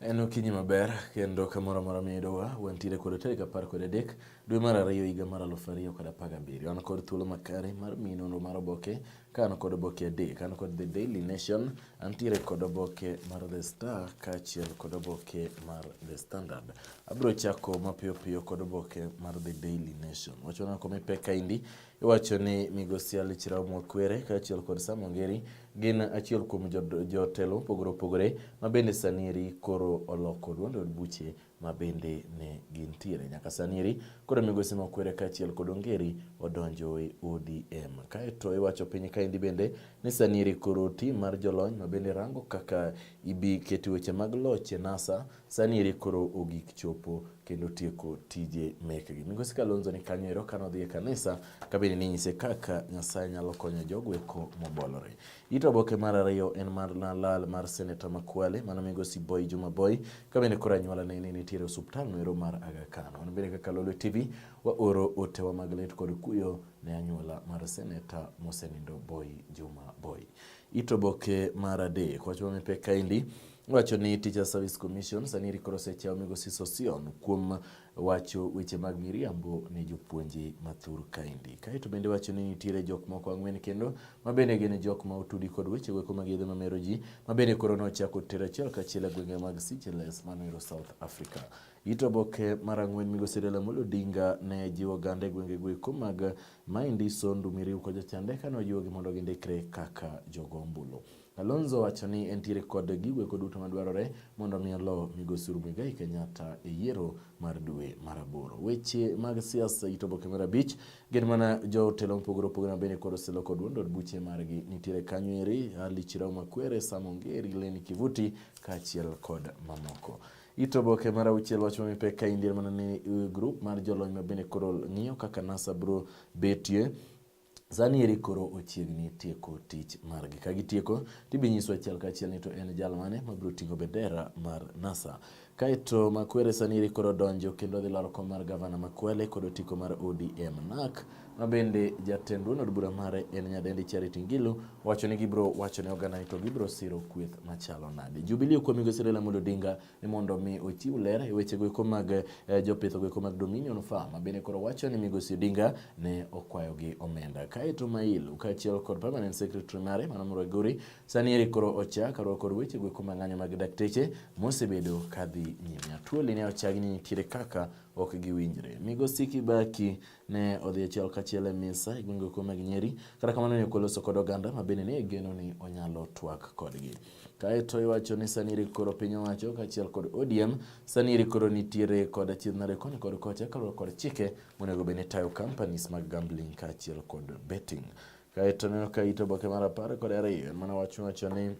En okinyi maber kendo kamoro amora miyudowa wantiere kod tarik apar kod adek dwe mar ariyo higa mar aluf ariyo kod apar gabiriyo an kod thuolo makare mar miyi nonro mar oboke ka an kod oboke adek an kod the daily nation antiere kod oboke mar the star kaachiel kod oboke mar the standard abiro chako mapiyo piyo kod oboke mar the daily nation wachona komipeka indi Iwacho ni migosi Ali Chirau Mwakwere kaachiel kod Sam Ongeri gin achiel kuom jotelo mopogore opogore ma bende sanieri koro oloko duond od buche ma bende ne gintiere. Nyaka sanieri koro migosi Mwakwere kaachiel kod Ongeri odonjo e ODM. Kaeto iwacho piny kaendi bende ni sanieri koro tim mar jolony ma bende rango kaka ibi keti weche mag loch e NASA Sani eri koro ogik chopo kendo tieko tije mekgi. Migosi Kalonzo ni kanyo ero kano dhi e kanisa kabende ninyise kaka Nyasaye nyalo konyo jogo eko mobolore. Ito oboke mar ariyo en mar lal mar seneta Makwale mano migosi Boy Juma Boy kabende koro anyuola ne ni nitiere osuptal no ero mar Aga Khan. Wan bende kaka Lolwe TV wa oro otewa mag lit kod kuyo ne anyuola mar seneta mosenindo Boy Juma Boy. Ito oboke mar adek wacho mipek kaendi Wacho ni Teachers Service Commission sani rikoro osechawo migosi Sosion kuom wacho weche mag miriambo ne jopuonje mathur kaendi. Kaeto bende wacho ni nitiere jok moko ang'wen kendo ma bende gin jok ma otudi kod weche weko mag yedhe mamero ji ma bende koro nochako tero achiel kachiel e gwenge mag Seychelles manoero South Africa. It oboke mar ang'wen migosi Raila Amolo Odinga ne jiwo oganda e gwenge goeko mag Maindi, Sondu, Miriu kod Jachande kane ojiwogi mondo gindikre kaka jogo ombulu. Kalonzo owacho ni entiere kod gigo eko duto madwarore mondo omi olo migosi Uhuru Muigai Kenyatta e yiero mar dwe mar aboro. Weche mag siasa ito oboke mar abich gin mana jotelo mopogore opogore mabende kod oseloko duond od buche margi nitiere kanyo eri Ali Chirau Makwere, Sam Ongeri, Leni Kivuti kaachiel kod mamoko. Ito oboke mar auchiel wacho ni pek ka indie mana ni eh, grup mar jolony mabende koro ng'iyo kaka NASA biro betie Sani eri koro ochiegni tieko tich margi. Ka gitieko, to ibinyiswa achiel ka achiel ni to en jal mane mabiro ting'o bendera mar NASA. Kaeto Makwere sani eri koro donjo kendo dhi laro kom mar gavana Makwele kod otiko mar ODM NAK ma bende jatend duond od bura mare en nyadendi Charity Ngilu wacho ni gibiro wacho ne oganda ni to gibiro siro kweth machalo nade. Jubilee kuom Migosi Raila Amolo Odinga ni mondo mi ochiw ler e weche goeko mag eh, jopith goeko mag Dominion Farm bende koro wacho ni Migosi Odinga ne okwayo gi omenda. Kaeto Mailu kaachiel kod permanent secretary mare Mano Muraguri sani eri koro ocha karwa kod weche goeko mag ng'anyo mag dakteche mosebedo kadhi nyime. Atuoli ne ochagi ni nitiere kaka ok giwinjre. Migosi Kibaki ne odhi achiel kachiel e misa e gwenge kuom mag Nyeri. Kata kamano ne okoloso kod oganda ma bende ne igeno ni onyalo twak kodgi. Kaeto iwacho ni sani iri koro piny owacho kaachiel kod ODM sani iri koro nitiere kod achiedh nade koni kod kocha kaluwore kod chike monego bed ni tayo companies mag gambling kaachiel kod betting. Kaeto neno ka ito oboke mar apar kod ariyo en mana wach wacho ni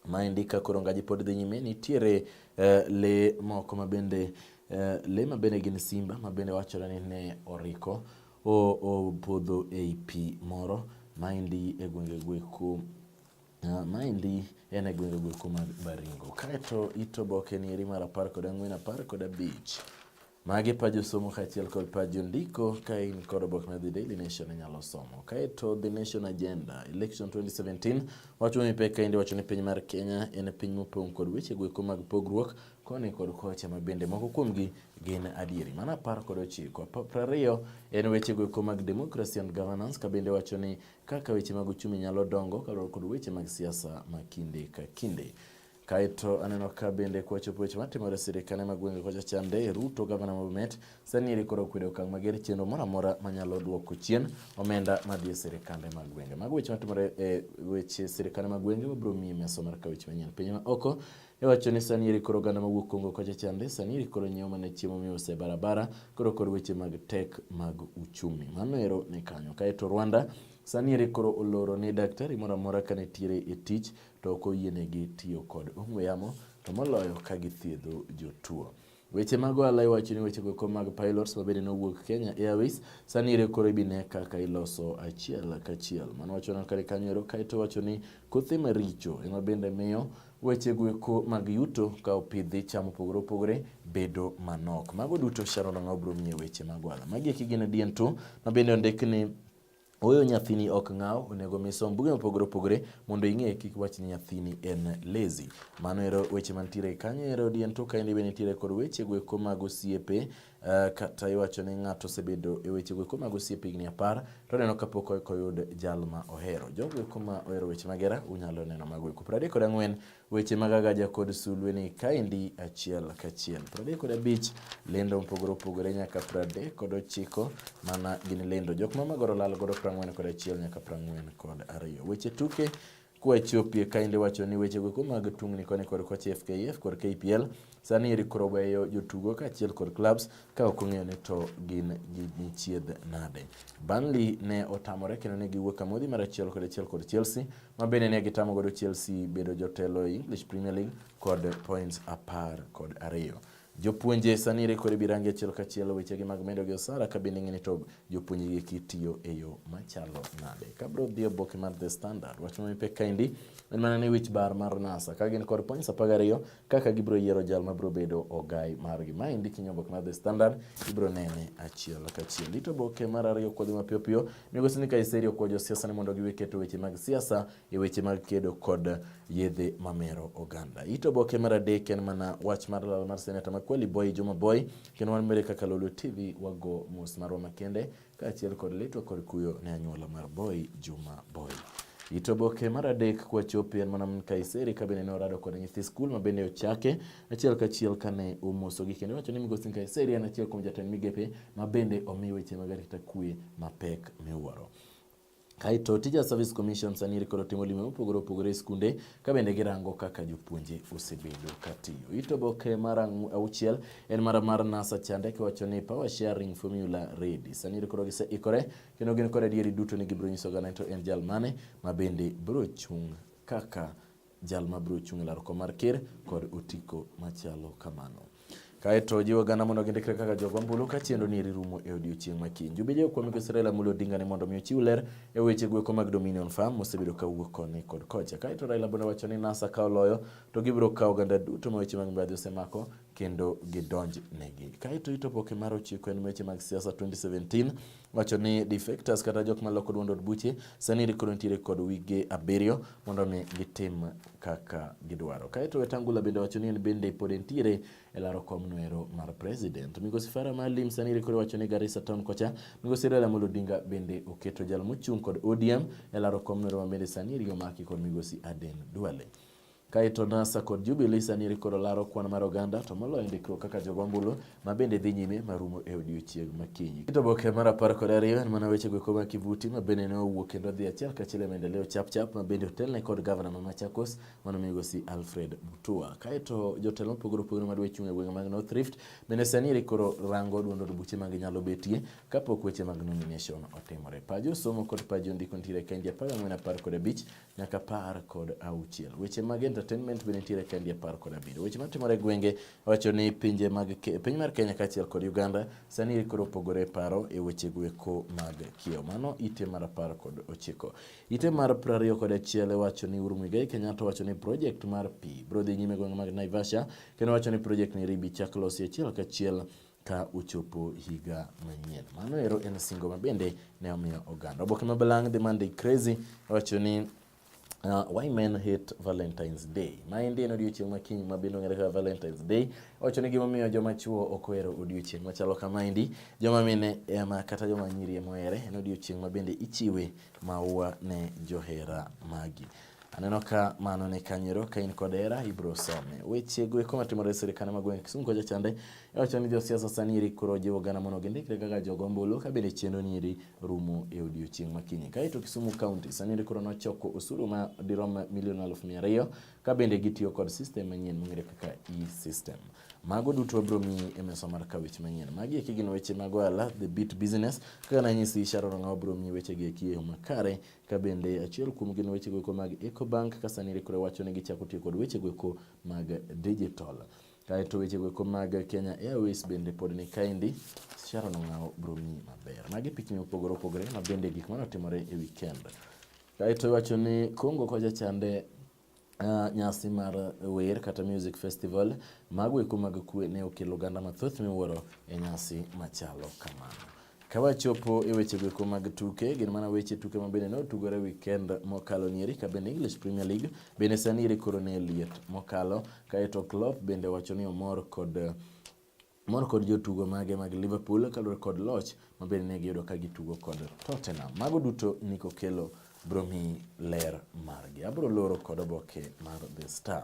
Maendi ka koro ngaji pod dhi nyime, nitiere uh, le moko ma bende uh, le ma bende gin simba ma bende wachore ni ne oriko opodho ei pi moro maendi e gwenge gweko Uh, maendi en e gwenge gweko mag Baringo. Kaeto ito oboke ni eri mar apar kod ang'wen, apar kod abich Magi pa josomo kaachiel kod pa jondiko ka in kod oboke mar The Daily Nation inyalo somo. Kaeto The Nation Agenda Election 2017 wacho ni pek kaendi wacho ni piny mar Kenya en piny mopong' kod weche goeko mag pogruok koni kod kocha ma bende moko kuomgi gin adieri. Mano apar kod ochiko. Apar ariyo en weche goeko mag democracy and governance ka bende wacho ni kaka weche mag uchumi nyalo dongo kaluwore kod weche mag siasa ma kinde ka kinde. Kaeto aneno ka bende kwachopo weche matimore e sirikane ma gwenge kocha chande Ruto gavana ma Bomet sani eri koro okwedo okang' mager chenro moro amora manyalo duoko chien omenda madhi e sirikande mag gwenge. Mago weche matimore e weche sirikane mag gwenge wabiro miyi mesa mar ka weche manyien piny ma oko iwacho ni sani eri koro oganda mawuok Kongo kocha chande sani eri koro nyiewo mana chiemo miuse barabara koro kod weche mag tek mag uchumi. Mano ero ni kanyo. Kaeto Rwanda Sani eri koro oloro ni daktari moro amora ka nitiere e tich to ok oyienegi tiyo kod ong'we yamo to moloyo ka githiedho jotuo. Weche mag ohala iwacho ni wechego eko mag pilots mabende nowuok Kenya Airways sani ere koro ibine kaka iloso achiel kachiel. Mano wacho na kare kanyo ero kaeto wacho ni kothe maricho ema bende miyo wechego eko mag yuto ka opidhi cham opogore opogore bedo manok. Mago duto Sharon Ong'aw biro miye weche mag ohala. Magi eki gin diento mabende ondik ni Oyo nyathini ok ng'aw, onego mi som buge mopogore opogore mondo ing'e kik wach ni nyathini en lazy. Mano ero weche mantiere kanyo ero dien to kaendi be nitiere kod weche goeko mag osiepe uh, kata iwacho ni ng'ato osebedo e weche goeko mag osiepe higni apar to oneno kapok oyud jal ma ohero. Jogo eko ma ohero weche magera unyalo neno mago eko. Piero adek kod ang'wen Weche mag Agaja kod Sulwe ni kaendi achiel kachiel. 35 lendo mopogore opogore nyaka 39 mana gin lendo. Jok ma magoro lal godo 40 kod achiel nyaka 40 kod ariyo. Weche tuke kwa Ethiopia kaendi wacho ni wechego eko mag tungni koni kod kocha FKF kod KPL Sani Eric koro weyo jotugo kaachiel kod clubs ka ok ong'eyo ni to gin gichiedh nade. Burnley ne otamore kendo ne giwuok amodhi mar achiel kod achiel kod Chelsea ma bende ne gitamo godo Chelsea bedo jotelo e English Premier League kod points apar kod ariyo. Jopuonje sani rekore birangi achiel kachiel wechegi mag medo gi osara ka bende ng'eni to jopuonje gi kitiyo e yo machalo nade. Ka bro dhi oboke mar The Standard, wach ma mipek kaendi en mana ni wich bar mar NASA ka gin kod points apar gariyo kaka gibiro yiero jal ma biro bedo ogai margi. Ma endi kinyo oboke mar The Standard ibiro nene achiel kachiel. Ito oboke mar ariyo kodhi mapiyo piyo, migosi ni Kaiseri okwayo josiasa ni mondo giwe keto weche mag siasa e weche mag kedo kod yedhe mamero oganda. Ito oboke mar adek en mana wach mar lal mar seneta ma Kweli Boy Juma Boy, kendo wan mere kaka Lolwe TV wago mos marwa makende Kaachiel kod litwa kod kuyo ne anyuola mar Boy Juma Boy. Ito oboke mar adek kwachopo en mana min Kaiseri ka bende ne orado kod nyithi skul ma bende ochake achiel kachiel kane omosogi kendo wacho ni migosi Kaiseri en achiel kuom jatend migepe ma bende omi weche mag arita kwe mapek miwuoro. Kaeto tija Service Commission sani iri koro timo lime mopogore opogore e skunde ka bende girango kaka jopuonje osebedo katiyo. Ito boke mar auchiel en mara mar NASA chande kiwacho ni power sharing formula ready. Sani iri koro gise ikore kendo gin kod adieri duto ni gibiro nyiso oganda to en jal mane ma bende biro chung' kaka jal ma biro chung' e laro kom mar ker kod otiko machalo kamano. Kaeto jiwo gana mondo gindikre kaka jogo ombulu ka chenro ni eri rumo e odiechieng' ma kiny. Jubije okwami ko Israel Amolo Odinga ni mondo mi ochiw ler e weche gweko mag Dominion Farm mosebedo ka wuok koni kod kocha. Kaeto Raila bende wacho ni NASA ka oloyo to gibiro kawo oganda duto ma weche mag mibadhi osemako kendo gidonj negi. Kaeto itopoke mar ochiko en weche mag siasa 2017 wacho ni defectors kata jok maloko duond od buche sani koro nitiere kod wige abiriyo mondo mi gitim kaka gidwaro. Kaeto Wetangula bende wacho ni en bende pod entiere e laro kom noero mar president. Migosi Fara Malim sani koro wacho ni Garissa town kocha Migosi Raila Amolo Odinga bende oketo jal mochung' kod ODM e laro kom noero ma bende sani omaki kod Migosi Aden Duale. Kaeto NASA kod Jubilee sani eri koro laro kwan mar oganda to moloyo ndikruok kaka jogwambulo ma bende dhi nyime marumo e odiechieng' makinyi. Kit oboke mar apar kod ariyo en mana weche goeko ma Kivuti ma bende ne owuok kendo dhi achiel kachiel e maendeleo chapchap ma bende otelne kod gavana ma Machakos mano migosi Alfred Mutua. Kaeto jotelo mopogore opogore ma dwa chung' e gwenge mag North Rift bende sani eri koro rango duond od buche mag nyalo betie kapok weche mag nomination otimore. Pajo somo kod pajo ndiko nitiere e kenje apar ang'wen apar kod abich nyaka apar kod auchiel. Weche mag entertainment be nitiere ka ndi apar kod abiriyo. Weche matimore e gwenge wacho ni pinje mag piny mar Kenya kaachiel kod Uganda sani koro opogore paro e weche gweko mag kiewo. Mano ite mar apar kod ochiko. Ite mar prariyo kod achiel wacho ni Uhuru Muigai Kenyatta wacho ni project mar pi bro dhi nyime gwenge mag Naivasha kendo wacho ni project ni ribi chak losi achiel kachiel ka uchopo higa manyien. Mano ero en singo ma bende ne omiyo oganda. Oboke ma balang' The Monday Crazy wacho ni Uh, why men hate Valentine's Day. Ma endi en odiochieng' ma kiny ma bende ong'ere kaka Valentine's Day. Owacho ni gimomiyo joma chwo ok ohero odiochieng' machalo kama endi, joma mine ema kata joma nyiri ema ohere. En odiochieng' ma bende ichiwe maua ne johera magi. Aneno ka mano ne kanyero ka in kod hera ibiro some. Weche go eko matimore e sirkande mag gweng' Kisumu kocha chande iwacho ni josiasa sani iri koro jiwo gana mondo gindikre kaka jogo ombulu ka bende chenro ni iri rumo e odiechieng' makinyi. Kaeto Kisumu County sani iri koro nochoko osuru ma dirom milion aluf mia ariyo ka bende gitiyo kod system manyien mong'ere kaka e-system. Mago duto wabiro miyi e mesa mar kawich manyien. Magi eki gin weche mag ohala, the beat business. Kaka nanyisi Sharon Ng'awa biro miyi weche gi eki e yo makare Ka bende achiel kuom gin wechego eko mag Ecobank ka sani rikore wacho ni gichako tiyo kod wechego eko mag digital. Kaeto wechego eko mag Kenya Airways bende pod ni kaendi. Sharon Ong'aw biro miyi maber. Magi pichni mopogore opogore ma bende gik mane otimore e weekend. Kaeto iwacho ni Congo kocha chande Uh, nyasi mar wer kata music festival mago eko mag kwe ne okelo oganda mathoth miwuoro e nyasi machalo kamano. Ka wachopo e weche goeko mag tuke, gin mana weche tuke ma bende ne otugore weekend mokalo nieri ka bende English Premier League bende sani iri koro ne liet mokalo, kaeto Klopp bende wacho ni omor kod mor kod jotugo mage mag Liverpool kaluwore kod loch ma bende ne giyudo ka gitugo kod Tottenham. Mago duto niko kelo bromi ler margi. Abro loro kod oboke mar The Star.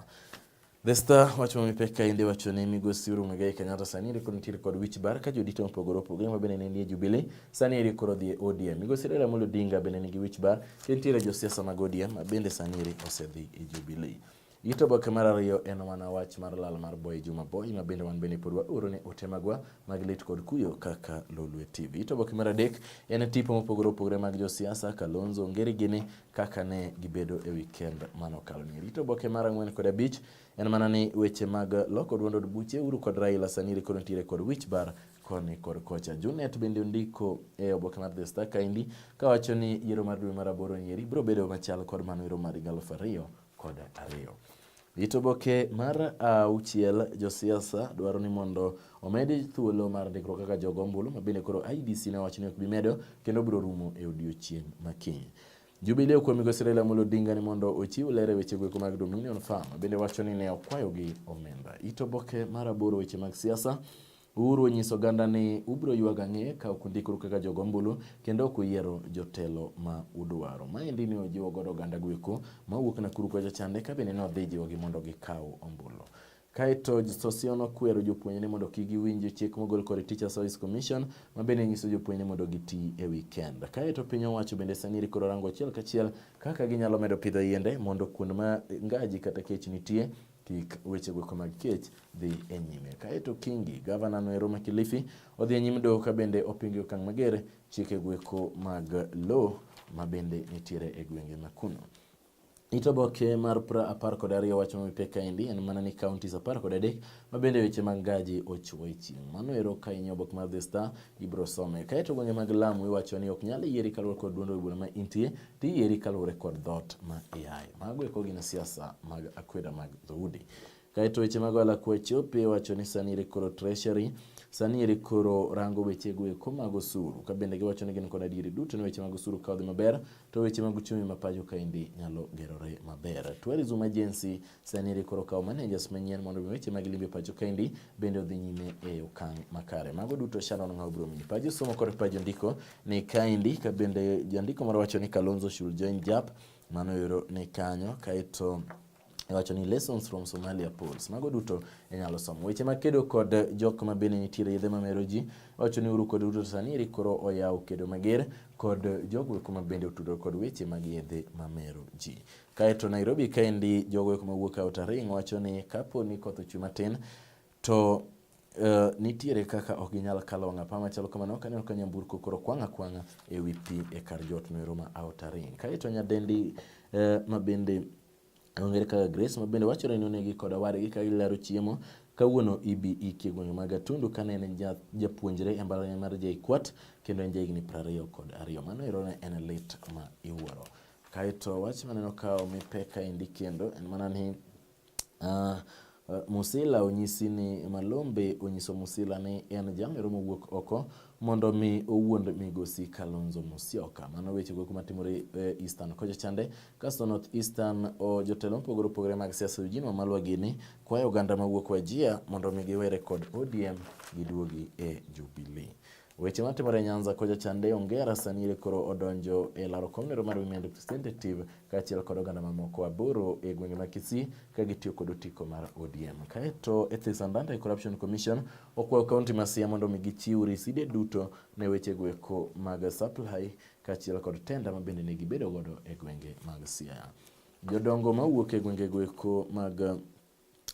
The Star wacho mipek ka inde wacho ni migosi Uhuru Muigai Kenyatta sani eri koro nitiere kod wich bar ka jodito mopogore opogore ma bende ne nie Jubilee sani eri koro dhi e ODM. Migosi Raila Amolo Odinga bende nigi wich bar to nitiere josiasa mag ODM ma bende sani eri osedhi e Jubilee. Ito boke mar ariyo en mana wach mar lal mar Boy Juma Boy ma bende wan bende pod waoro ne ote magwa mag lit kod kuyo kaka Lolwe TV. Ito boke mar adek en tipo mopogore opogore mag josiasa Kalonzo Ngeri gini kaka ne gibedo e weekend mano kalo ni. Ito boke mar ang'wen kod abich en mana ni weche mag loko duond od buche uru kod Raila Saniri kod ntiere kod wich bar koni kod kocha. Junet bende ondiko e oboke mar The Star kaendi kawacho ni yiero mar dwe mar aboro nyeri biro bedo machal kod mano yiero mar higa aluf ariyo kod ariyo. Ito boke mar auchiel, josiasa dwaro ni mondo omedi thuolo mar ndikruok kaka jogo ombulu ma bende koro IBC ne owacho ni ok bi medo kendo biro rumo e odiechieng' ma kiny. Jubilee okwayo migosi Raila Amolo Odinga ni mondo ochiw ler e weche gweko mag Dominion Farm bende wacho ni ne okwayogi omenda. Ito boke mar aboro weche mag siasa Uhuru onyiso oganda ni ubiro ywag ang'e ka ok undikru kaka jogo ombulu kendo ok uyiero jotelo ma udwaro. Maendi ne ojiwo godo oganda gweko ma wuok Nakuru kocha chande ka bende ne odhi jiwogi mondo gikaw ombulu. Kaeto Sosion okwero jopuonjre mondo kik giwinj chik mogol kod Teacher Service Commission ma bende nyiso jopuonjre mondo giti e weekend. Kaeto piny owacho bende sani rikoro rango achiel kachiel kaka ginyalo medo pidho yiende mondo kuonde ma ngaji kata kech nitie kik wechego eko mag kech dhi e nyime. Kaeto Kingi, gavana no ero ma Kilifi, odhi e nyim doho ka bende opingo e okang' mager chikego eko mag lo ma bende nitiere e gwenge ma kuno. It oboke mar pra apar kod ariyo wacho mipek kaendi en mana ni counties apar kod adek ma bende weche mag gaji ochwo e chieng'. Mano ero ka in e oboke mar The Star ibiro some. Kaeto gwenge mag Lamu iwacho ni ok nyal yieri kaluwore kod duond od bura ma intie Diyieri kaluwore kod dhoot ma iaye. Mago eko gin siasa mag akweda mag dhoudi. Kaeto weche mag ohala kwa chope wacho ni sani ere koro treasury sani ere koro rango weche go eko mag osuru ka bende giwacho ni gin kod adieri duto ni weche mag osuru ka odhi maber to weche mag uchumi ma pacho kaendi nyalo gerore maber. Tourism Agency Sani eri koro kawo managers manyien mondo mi weche mag limbe pacho kendi bende odhi nyime e okang' makare. Mago duto Sharon Ng'aw biro miyi pajo somo kod pajo ndiko ni kaendi ka bende jandiko moro wacho ni Kalonzo should join JAP mano yoro ni kanyo kaeto wacho ni lessons from Somalia polls. Mago duto inyalo somo. Weche mag kedo kod jok ma bende nitiere yedhe ma mero ji wacho ni uru kod Ruto sani eri koro oyawo kedo mager kod jogo eko ma bende otudore kod weche mag yedhe ma mero ji. Kae to Nairobi kaendi jogo eko mawuok Outaring wacho ni kapo ni koth ochwe matin to Uh, nitiere kaka ok ginyal kalo wang' apaya machalo kamano ok aneno ka nyamburko koro kwang' akwang'a e wi pi e kar jot noero ma Outaring. Kae to nyadendi uh, ma bende ong'ere kaka Grace ma bende wachore ni onegi kod owadgi ka gilaro chiemo kawuono ibi iki e gwenge mag Atundu kane en japuonjre e mbalariany mar JKUAT kendo en jahigni prariyo kod ariyo. Mano ero ne en lit ma iwuoro. Kae to wach maneno ka omi pek kaendi kendo en mana ni uh, Musila onyisi ni Malombe onyiso Musila ni en jamero mowuok oko mondo mi owuond migosi Kalonzo Musyoka. Mano weche go kuma timore e Eastern kocha chande. Kasto North Eastern o jotelo mopogore opogore mag siasa Eugene Wamalwa gini kwayo oganda mawuok Wajia mondo mi giwere kod ODM giduogi e Jubilee. Weche matimore Nyanza kocha chande Ongera sani ere koro odonjo e laro komnero mar Women Representative kaachiel kod oganda mamoko aboro e gwenge ma Kisii ka gitiyo kod otiko mar ODM. Kaeto Ethics and Anti Corruption Commission okwayo kaunti ma Siaya mondo omi gichiw riside duto ne weche gweko mag supply kaachiel kod tenda ma bende ne gibedo godo e gwenge mag Siaya. Jodongo mawuok e gwenge gweko mag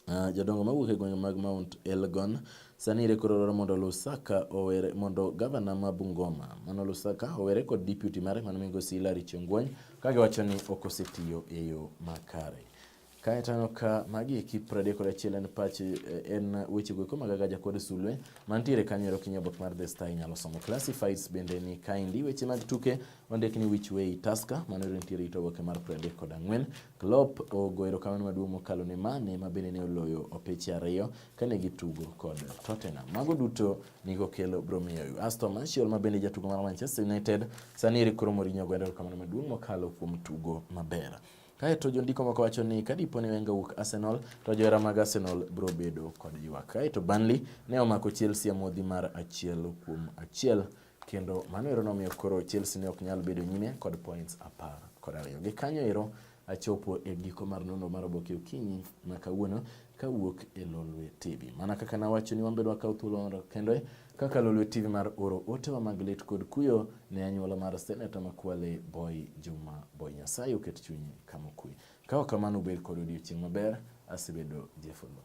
Uh, jodongo mawuok e gwenge mag Mount Elgon sani ire koro dwaro mondo Lusaka owere mondo gavana ma Bungoma mano Lusaka owere kod deputy mare mano migosi Hilary Chengwony ka giwacho ni ok osetiyo e yo makare. Kae taneno ka magi eki pradek kod achiel en pach eh, en wechego eko mag Agaja kod Sulwe mantiere kanyo ero kinyo obok mar The Star inyalo somo. Classifieds bende ni kaendi weche mag tuke Ondik ni Which Way Tusker, mano ero nitiere it oboke mar piero adek kod ang'wen. Klopp ogo erokamano maduong' mokalo ne Mane ma bende ne oloyo opeche ariyo kane gitugo kod Tottenham. Mago duto niko kelo bro miyo Aston Martial ma bende jatugo mar Manchester United sani eri koro Mourinho ogwendo erokamano maduong' mokalo kuom tugo maber. Kae to jondiko moko wacho ni ka dipo ni Wenger wuok Arsenal to johera mag Arsenal biro bedo kod ywak. Kae to Burnley ne omako Chelsea amodhi mar achiel kuom achiel Kendo mano ero nomiyo koro Chelsea ne ok nyal bedo nyime kod points apar kod ariyo. Gi kanyo ero achopo e giko mar nonro mar oboke okinyi ma kawuono kawuok e Lolwe TV. Mana kaka nawacho ni wambedo wakaw thuolo mondo kendo kaka Lolwe TV mar oro otewa mag lit kod kuyo ne anyuola mar seneta makwale Boy Juma Boy Nyasaye oket chunyi kama okwe. Ka ok kamano ubed kod odiochieng' maber, asebedo Jeff Oloo.